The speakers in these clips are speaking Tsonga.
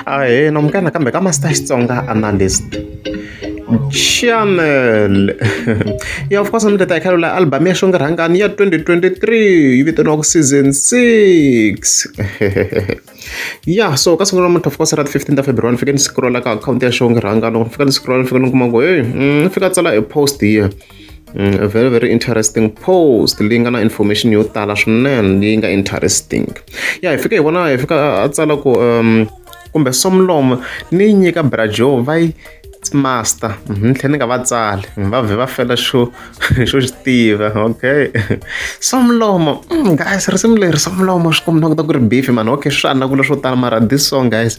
ahena munghana kambe ka master xitsonga analyst channel ya of course mi ta ta khalo la album ya xonge rhangani ya 2023 yi vitaniwaku season 6 ya so ka siku namuntlha of course ra 15 ta february ni fike ni scrolla ka akhawunti ya xonge rhangani loko ni fika ni scrolla ni fika ni kuma ku heyi ni mm, fika tsala e post here Mm, a very very interesting post leyi nga na information yo tala swinene leyi nga interesting ya hi fika hi vona hi fika a tsala ku um kumbe somlomo ni yi nyika brajo va yi master mhm, ni tlhela ni nga va tsali va vhe va fela xo xo xi tiva okay somlomo mm, guys risimu leri somlomo swi kombisa ku ta ku ri beef mani okay swi anakula swo tala mara this song guys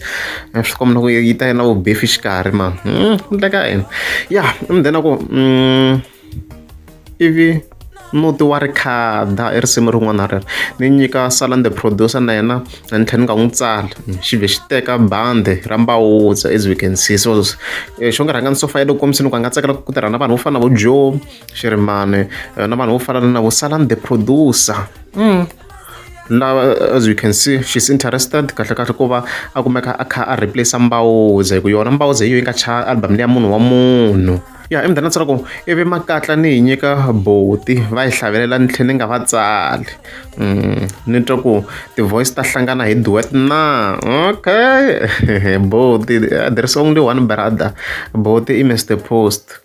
a swi kombela ku yi ta yi na vubefi xikarhi ma hmm, ku ndleka yini ya mudena ku hmm, ivi muti wa rikhada i risimu rin'wana rero ni nyika salan the producer na yena na ni tlhela ni nga n'wi tsala xi vhe xi teka bandi ra mbawutsa as we can see so eh, xo nga rhanga ni sofa ya loko kombisini ku a nga tsakela ku tirha na vanhu vo fana na vo joe xirimane eh, na vanhu vo fana na vo salan the producer mm. lava as you can see she's interested kahle kahle ku va a kumeka a kha a replace mbawuze hi ku yona mbawuze hi yo yi nga chaya album leya munhu wa munhu ya i mdana tsala ku ivi makatla ni yi nyika boti va yi hlavelela ni tlhe ni nga va tsali mm, ni twa ku ti-voice ta hlangana hi duet na okay boti there is only one brother boti i mr post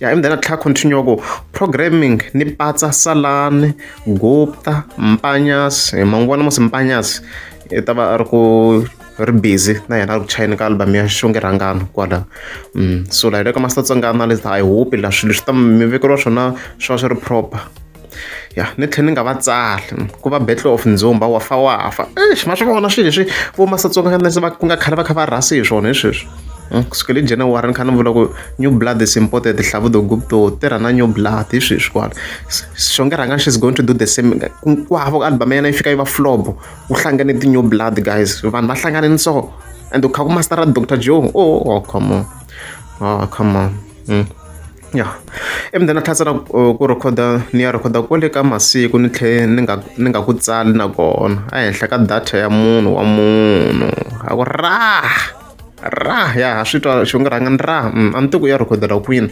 ya and then a tlha continue ku programming ni patsa salani gupta mpanyas eh, mangwana musi mpanyas i eh, ta va a ri ku ri busy na yena ri ku chayeni ka album ya xonge rhangano kwala mm, so laha le ka master tsongana le ta i hope la swilo swi ta mi vekeriwa swona swi va swi ri proper ya ni tlhela ni nga va tsali ku va battle of ndzumba wa fa wa fa exi ma swi vona swilo leswi vo masatsonganese va ku nga khale va kha va rhasi hi swona hi sweswi hmm, ku suka le january ni kha ni vula ku new blood is imported hlavudo gupto tirha na new blood hi sweswi kwala xonge rhanga she's going to do the same ku hava ku album ya yena yi fika yi va flobo ku hlangane ti-new blood guys vanhu va hlangane ni so and u kha ku mastera dr joe oh, oh come on oh come on Mm. Ya. I mina na tlhela na ku rhekhoda ni ya rhekhoda kwale ka masiku ni tlhela ni nga ni nga ku tsali na kona ehenhla ka data ya munhu wa munhu a ku rah rah ya ha swi twa xi nga rhanga ni rah mm, a ni tiku ya rhekhodela kwini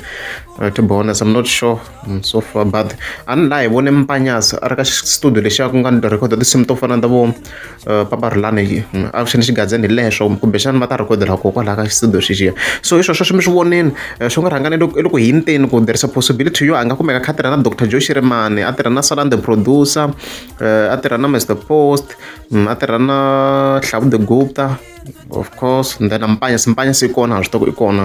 uh, to be honest i'm not sure mm, so far but a ni laha hi vone mpanyasi a ri ka studio lexiya ku nga ni rhekhoda tinsimu to fana ta vo papa ri lani hi a ku xana xigazeni hi lexo kumbexana va ta rhikodela koho kwalaho ka xisido xexiya so hi swo sweswo mi swi voneni swi nga rhangani i loko hi nteni ku there is a possibility yo a nga kumeka kha tirha na doctor joe xirimani a tirha na salan the producer a tirha na mr post a tirha na hlavu the gupta of course and then ampanya simpanya se kona a swi tiva ku i kona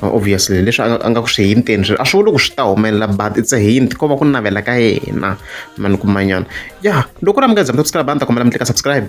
uh, obviously leswi a nga ku swi hinteni swi a swi vuli ku swi ta humelela but it's a hint ko va ku navela ka yena mani kumanyana ya loko ra mi nga zami subscribe a ni ta kombela mi tlika subscribe